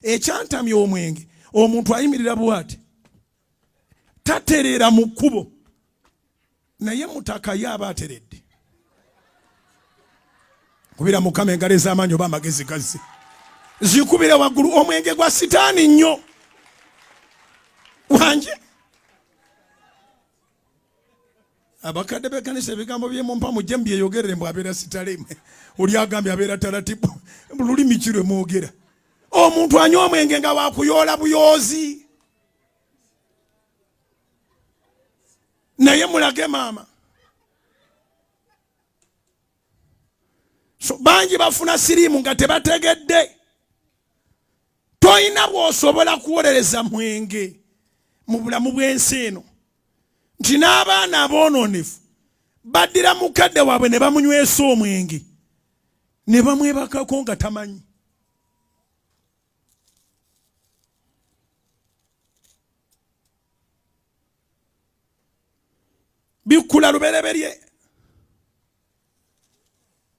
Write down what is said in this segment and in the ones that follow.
ekyantamya omwenge omuntu ayimirira bwati tatereera mu kkubo naye mutaka ye aba ateredde kubira mukama engalo ez'amaanyi oba amagezi gazze zikubire waggulu omwenge gwa sitaani nnyo wanje abakadde bekanisa ebigambo byemumpa mujje mubyeyogerere mbu abeera sitale oli agambye abeera talatibu lulimi ki lwemwogera omuntu anywa omwenge nga wakuyoola buyoozi naye mulage maama so bangi bafuna siriimu nga tebategedde tolina bwosobola kuwolereza mwenge mu bulamu bw'ensi eno nti n'abaana aboononefu baddira mukadde waabwe ne bamunywesa omwenge ne bamwebakako nga tamanyi bikkula lubereberye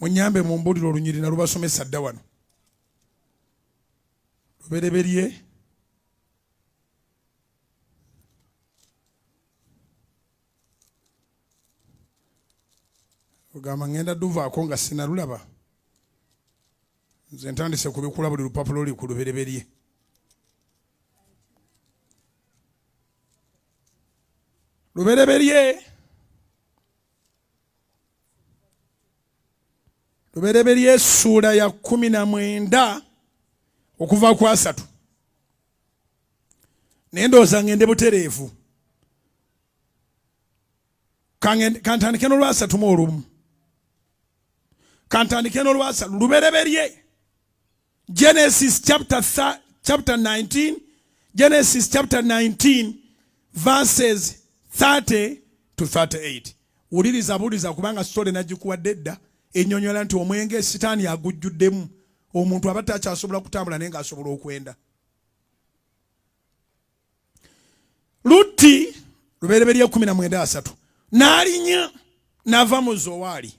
munyambe mumbulire olunyiri nalubasomesa dda wano lubereberye ogamba ngenda duvaako nga sinalulaba nze ntandise kubikula buli lupapula oli ku lubereberye lubereberye lubereberye essuula ya kumi na mwenda okuva ku asatu naye ndowooza ngende butereevu kantandike n'olwasatu mu olumu kantandike n'olwasa lubereberye genesis chapter, chapter 19 genesis chapter 19 verses 30 to 38 wuliriza buliza kubanga sitole nagikuwadde edda enyonyola nti omwenge sitaani agujjuddemu omuntu aba takyasobola kutambula naye ngaasobola okwenda lutti lubereberye kumi na mwenda asatu n'alinya n'ava mu zowaali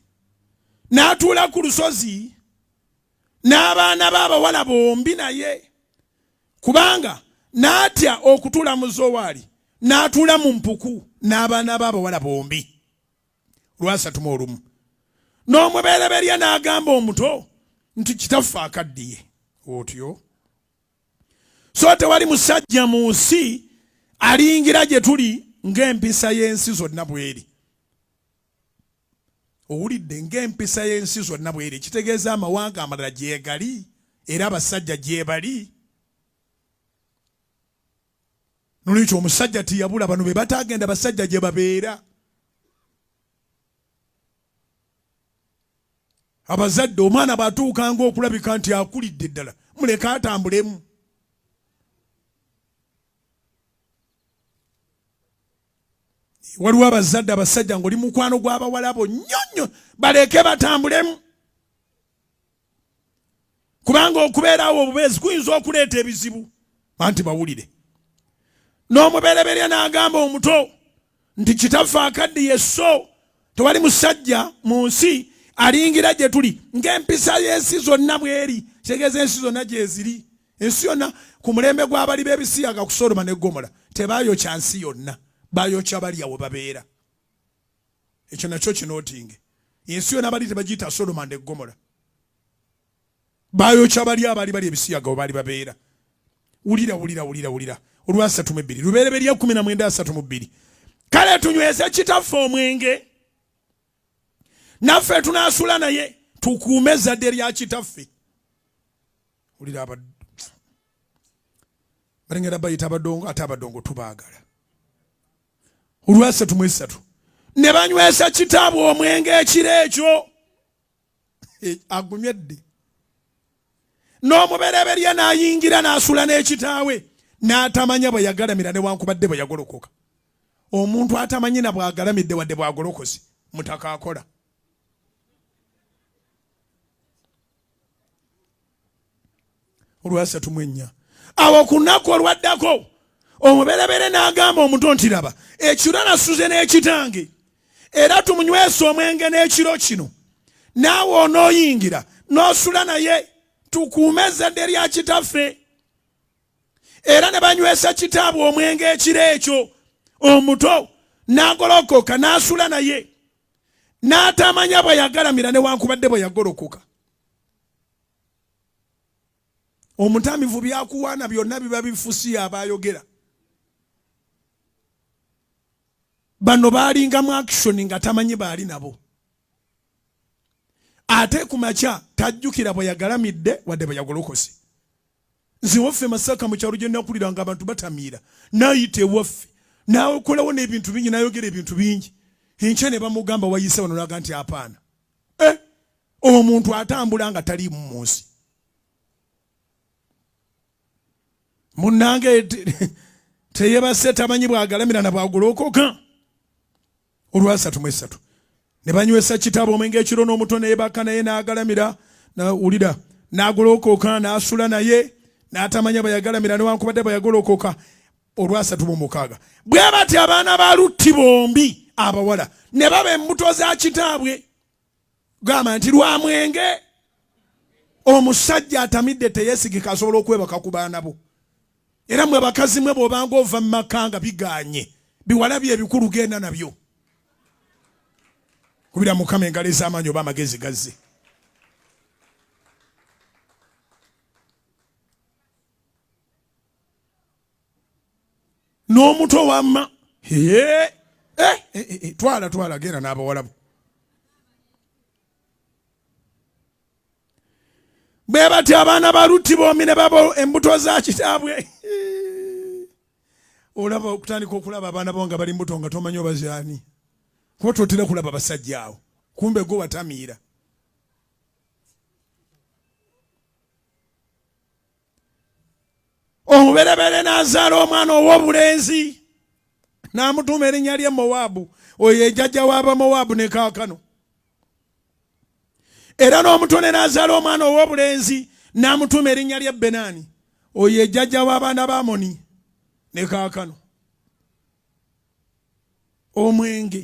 n'atuula ku lusozi n'abaana b'abawala bombi naye kubanga n'atya okutuula mu zowaali n'atuula mu mpuku n'abaana b'abawala bombi lwasatuma olumu n'omubereberye n'agamba omuto nti kitaffe akaddiye otyo so tewali musajja mu nsi aliyingira gye tuli ng'empisa y'ensi zonna bweri owulidde ng'empisa y'ensi zonna bweri kitegeeza amawanga amalala gyegali era abasajja gyebali nolwekyo omusajja tiyabula bano be batagenda basajja gye babeera abazadde omwana bwatuukanga okulabika nti akulidde ddala muleke atambulemu waliwo abazadde abasajja ngaoli mukwano gw'abawalabo nnyo nnyo baleeke batambulemu kubanga okubeerawo obubeezi kuyinza okuleeta ebizibu anti bawulire n'omubereberya n'agamba omuto nti kitaffe akaddiye so tewali musajja mu nsi alingira gye tuli ng'empisa y'ensi zonna bweri kitegeeza ensi zonna gyeziri ensi yonna ku mulembe gw'abali b'ebisiyaga ku sodoma ne gomola tebaayokya nsi yonna baayokya balya we babeera ekyo nakyo kinootinge ensi yona bali tebagiyita sodoma nde gomola bayokya bali abaali bali ebisiyaga webaali babeera wulira wulira wulira wulira olwasatu mu ebbiri lubereberya kumi na mwenda asatu mu bbiri kale tunyweze kitaffe omwenge naffe tunaasula naye tukuume ezzadde lya kitaffe wulira abaddu balengera bayita abadongo ate abadongo tubaagala olwasatu mwesatu ne banywesa kitaabwe omwenge ekiro ekyo eh, agumye dde n'omubereberye n'ayingira n'asula n'ekitaawe n'atamanya bwe yagalamira newankubadde bwe yagolokoka omuntu atamanyi na bwagalamidde wadde bwagolokosi mutaka akola olwasatu mu ennya awo ku nnaku olwaddako omuberebere n'agamba omuto nti laba ekiro nasuze n'ekitange era tumunywesa omwenge n'ekiro kino naawe onooyingira n'osula naye tukuume ezzadde lya kitaffe era ne banywesa kitaabwe omwenge ekiro ekyo omuto n'agolokoka n'asula naye n'atamanya bwe yagalamira newankubadde bwe yagolokoka omutamivu byakuwaana byonna biba bifusiya abayogera bano baalinga mu action nga tamanyi baali nabo ate ku makya tajjukira bwe yagalamidde wadde bwe yagolokose nze waffe masaka mu kyalo gye nakulira nga abantu batamiira nayita ewaffe naokolawo n'ebintu bingi nayogera ebintu bingi enkya ne bamugamba wayise wano naga nti apaana eh, omuntu atambula nga taliimu mu nsi munnange teyebase tamanyi bwagalamira na bwagolokoka olwasatu mwesatu ne banywesa kitabo omwenge ekiro n'omuto neyebaka naye n'agalamira nawulira n'agolokoka n'asula naye n'atamanya bayagalamira newankubadde bayagolokoka olwasatu mu mukaaga bwe batya abaana ba lutti bombi abawala ne baba embuto za kitaabwe gamba nti lwa mwenge omusajja atamidde teyesigika asobola okwebaka ku baana bo era mwe bakazi mwe bwobanga ova mu maka nga biganye biwala bye ebikulu genda nabyo kubira mukama engalo ez'amaanyi oba amagezi gazze n'omuto wamma eh, eh, eh, twala twala genda n'abawalabu bwe batyo abaana ba lutti bombi ne babo embuto za kitaabwe olaba okutandika okulaba abaana bo nga bali mbuto nga tomanyi obazaani kuba totera kulaba abasajja awo kumbe gwe watamiira omubereberye n'azaala omwana ow'obulenzi n'amutuuma erinnya lye mowaabu oyo ejajja w'abamowaabu ne kaakano era n'omutone n'azaala omwana ow'obulenzi n'amutuuma erinnya lye benaani oyo ejjajja w'abaana ba amoni ne kaakano omwenge